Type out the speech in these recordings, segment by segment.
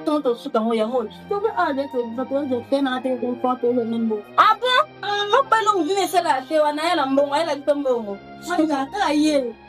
Tonto suka mo yango. Tonto a de to to to te na te ko ko to le nimbo. Apo, mo pa no mo vine sala te wana ya la mbongo, ya la mbongo. Sanga ta yele.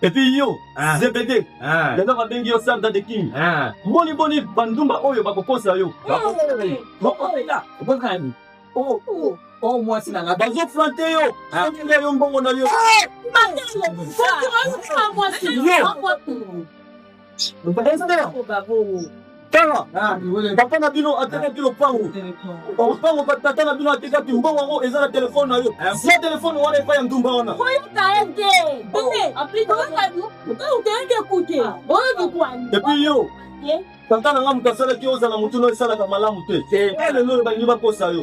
epuis yo ah. zebede ah. lelo babengi yo sanda de king ah. mboni mboni bandumba oyo bakokosa yo bakokosa oh, oh, oh, mwasi na nga bazoflante yo okende yo mbongo na yo tala papa na bino atekaki lopango lopango batata na bino atekaki mbongo yango eza na telefone na yo zia telefone wana epai ya ndumba wana epuis yo tata na nga moto asalaki ozala motu no esalaka malamu te lelo balingi bakosa yo